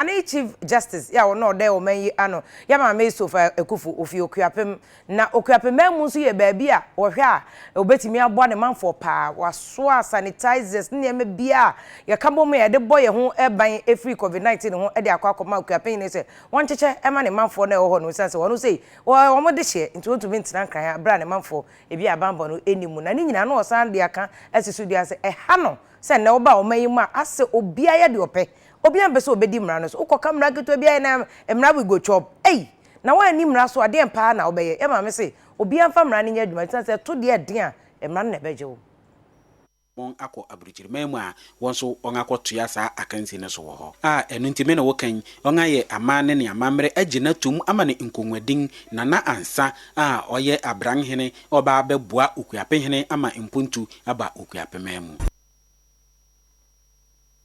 Anee Chief Justice yɛ a ɔno na ɔdɛ ɔman yi ano yɛ Maame Esofa Akuffo, ofi Okuapem. Na Okuapem man mu nso yɛ baabi a wɔhwɛ a wɔbɛtumi aboa ne manfoɔ paa. Wɔasoa sanitizers ne nneɛma biara a yɛka bɔ mu a yɛde bɔ yɛn ho ban firi Covid 19 ho de akɔ akɔma Okuapem hene sɛ wɔnkyekyɛ mma ne manfoɔ no a ɛwɔ hɔ no esiane sɛ wɔn sei wɔyɛ wɔn dehyeɛ nti wɔntumi ntena nkran ha berɛ a ne manfoɔ ebi a banbɔ no nni mu. Na ne nyinaa na ɔsan de aka asi so dua sɛ ɛha no sɛ nnɛ woba ɔman yi mu a asɛ obiara yɛ deɛ ɔpɛ Obiaa mpɛ sɛ ɔbɛdi mmara no so. Wokɔka mmara ketewa bi ayɛ na mmara we go chop. Ei! Na woanni mmara so a, deɛn paa na wobɛyɛ? Yɛn maame se, Obiaa mfa mmara no nyɛ adwuma, ɛsiane sɛ ɛto deɛ ɛden a, mmara no na ɛbɛgye wo. wɔn akɔ aburukyireman mu a, wɔn nso wɔn akɔ toa saa akansi no so wɔ hɔ. A ɛno nti me ne wo kan, wɔn ayɛ aman ne ne amammerɛ agye no atom ama no nkɔnwadin, na na ansa a ɔyɛ abran hene ɔba abɛboa Okuapehene ama mpontu aba Okuapeman mu.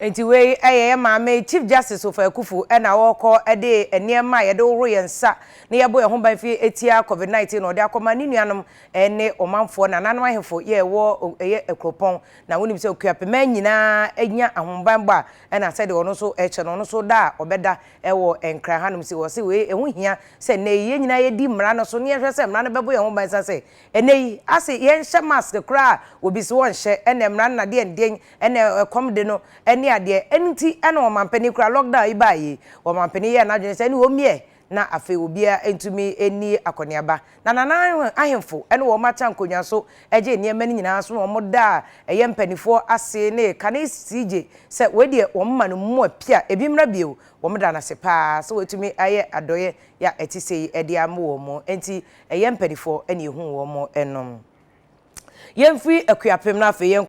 Enti wei yɛ yɛn maame Chief Justice Ofer Akuffo na ɔrekɔ de nneɛma a yɛde hohoro yɛn nsa na yɛbɔ yɛn ho ban fi tia Covid 19 no ɔde akɔma ne nuanom ne ɔmanfoɔ, nananom ahemfo yɛ ɛwɔ ɛyɛ akuropɔn. Na wonim sɛ Okuapeman nyinaa nya ahobanbɔ a ɛna sɛdeɛ ɔno nso ɛkyɛ no ɔno nso da a ɔbɛda ɛwɔ Nkran ha nom si wɔ se wei ɛho hia sɛ nnɛ yi yɛn nyinaa yɛdi mmara no so na yɛhwɛ sɛ mmara no bɛbɔ yɛn ho ban sane sɛ nnɛ yi ase yɛnhyɛ mask koraa a obi se ɔnhyɛ ɛna mmara no na deɛn deɛn Ɛna ɛkɔm de no ne adeɛ. Ɛno nti na ɔmampanin koraa lockdown yi baeɛ yi, ɔmampanin yɛɛ n'adwene sɛ ɛne wɔmmiɛ na afei obiara ntumi nni akɔneaba. Na Nana ahemfo ne wɔn akyɛ nkonnwa so gyee nneɛma no nyinaa so na wɔdaa ɛyɛ mpaninfoɔ ase ne kane sii gye sɛ wei deɛ wɔn ma no mmoa pi a ebi mmra bio. Wɔda no ase pa ara sɛ wɔatumi ayɛ adɔeɛ a ɛte sei de ama wɔn. Enti ɛyɛ mpaninfoɔ na ɛhuu wɔn nom. Yɛmfiri Akuapem na afei yɛnkɔ.